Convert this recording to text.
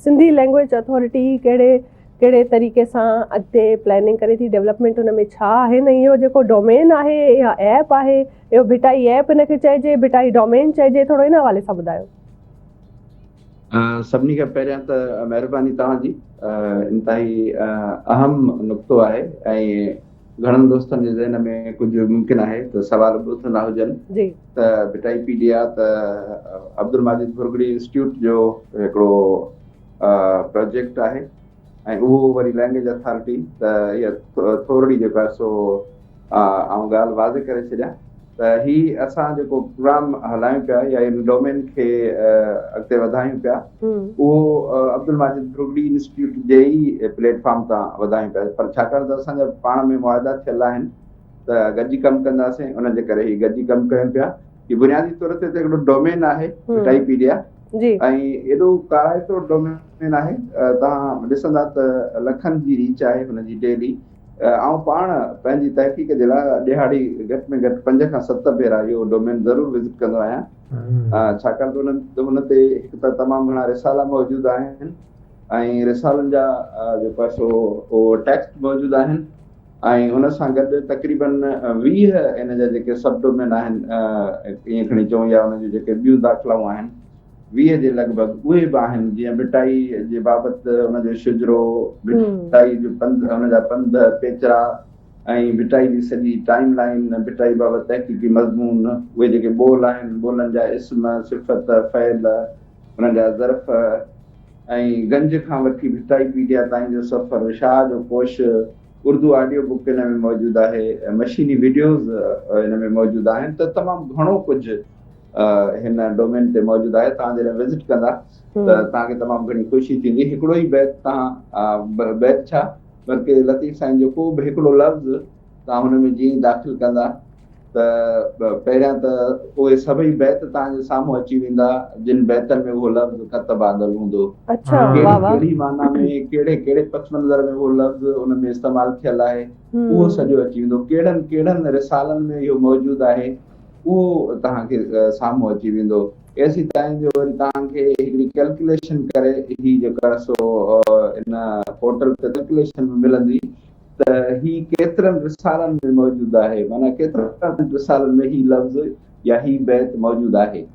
Sindhi language authority ڪهڙي ڪهڙي طريقي سان اڳتي پلاننگ ڪري ٿي ڊيولپمينٽ ان ۾ ڇا آهن ۽ اهو جيڪو ڊومين آهي يا ايپ آهي اهو ڀٽائي ايپ ان کي چئجي ڀٽائي ڊومين چئجي ٿورو ان حوالي سان ٻڌايو. سڀني کان پهريان ته مهرباني توهان جي انتهائي اهم نقطو آهي ۽ گهڻن دوستن جي ذهن ۾ ڪجهه ممڪن آهي ته سوال به اٿندا هجن. جي. ته ڀٽائي پي ڊي آء ته عبدالماجد ڀرڳڙي انسٽيٽيوٽ جو هڪڙو پروجيڪٽ آهي ۽ اهو وري لينگويج اٿارٽي ته هيء ٿورڙي جيڪو آهي سو آئون ڳالهه واضح ڪري ڇڏيان ته هي اسان جيڪو پروگرام هلايون پيا يا ان ڊومين کي اڳتي وڌايون پيا اهو عبدالماجد ڀرڳڙي انسٽيٽيوٽ جي ئي پليٽ فارم تان وڌايون پيا پر ڇاڪاڻ ته اسان جا پاڻ ۾ معاهدا ٿيل آهن ته گڏجي ڪم ڪنداسين ان جي ڪري هي گڏجي ڪم ڪيون پيا هي بنيادي طور تي هڪڙو ڊومين آهي وٽائيپيڊيا جي ۽ ايڏو ڪارائتو ڊومين آهي توهان ڏسندا ته لکن جي ريچ آهي هن جي ڊيلي آئون پاڻ پنهنجي تحقيق جي لاء ڏيهاڙي گهٽ ۾ گهٽ پنج کان ست ڀيرا اهو ڊومين ضرور وزٽ ڪندو آهيان ڇاڪاڻ ته هن هن تي هڪ ته تمام گهڻا رسالا موجود آهن ۽ رسالن جا جيڪو سو ٽيڪسٽ موجود آهن ۽ ان سان گڏ تقريبن ويهه ان جا جيڪي سب ڊومين آهن ائين کڻي چئون يا ان جون جيڪي ٻيون داخلائون آهن ويهه جي لڳ ڀڳ اهي به آهن جيئن ڀٽائي جي بابت ان جو شجرو ڀٽائي جو پنڌ ان جا پنڌ پيچرا ۽ ڀٽائي جي سڄي ٽائيم لائين ڀٽائي بابت تحقيقي مضمون اهي جيڪي ٻول آهن ٻولن جا اسم صفت فعل هن جا ظرف ۽ گنج کان وٺي ڀٽائي پيڊيا تائين جو سفر شاهه جو ڪوش اردو آڊيو بڪ ان ۾ موجود آهي ۽ مشيني وڊيوز ان ۾ موجود آهن ته تمام گهڻو ڪجهه هن ڊومين تي موجود آهي توهان جڏهن وزٽ ڪندا ته توهان کي تمام گهڻي خوشي ٿيندي هڪڙو ئي بيت توهان بيت ڇا بلڪه لطيف سائين جو ڪو به هڪڙو لفظ توهان هن ۾ جيئن ئي داخل ڪندا ته پهريان ته اهي سڀئي بيت توهان جي سامهون اچي ويندا جن بيتن ۾ اهو لفظ ڪتب آندل هوندو. ڪهڙي معنيٰ ۾ ڪهڙي ڪهڙي پس منظر ۾ اهو لفظ ان ۾ استعمال ٿيل آهي اهو سڄو اچي ويندو. ڪهڙن ڪهڙن رسالن ۾ اهو موجود آهي اهو توهان کي سامهون اچي ويندو. ايسي تائين جو وري توهان کي هڪڙي ڪلڪليشن ڪري هي جيڪا سو ان پورٽل تي ڪلڪليشن به ملندي ته هي ڪيترن رسالن ۾ موجود آهي، معنيٰ ڪيترن رسالن ۾ هي لفظ يا هي بيت موجود آهي.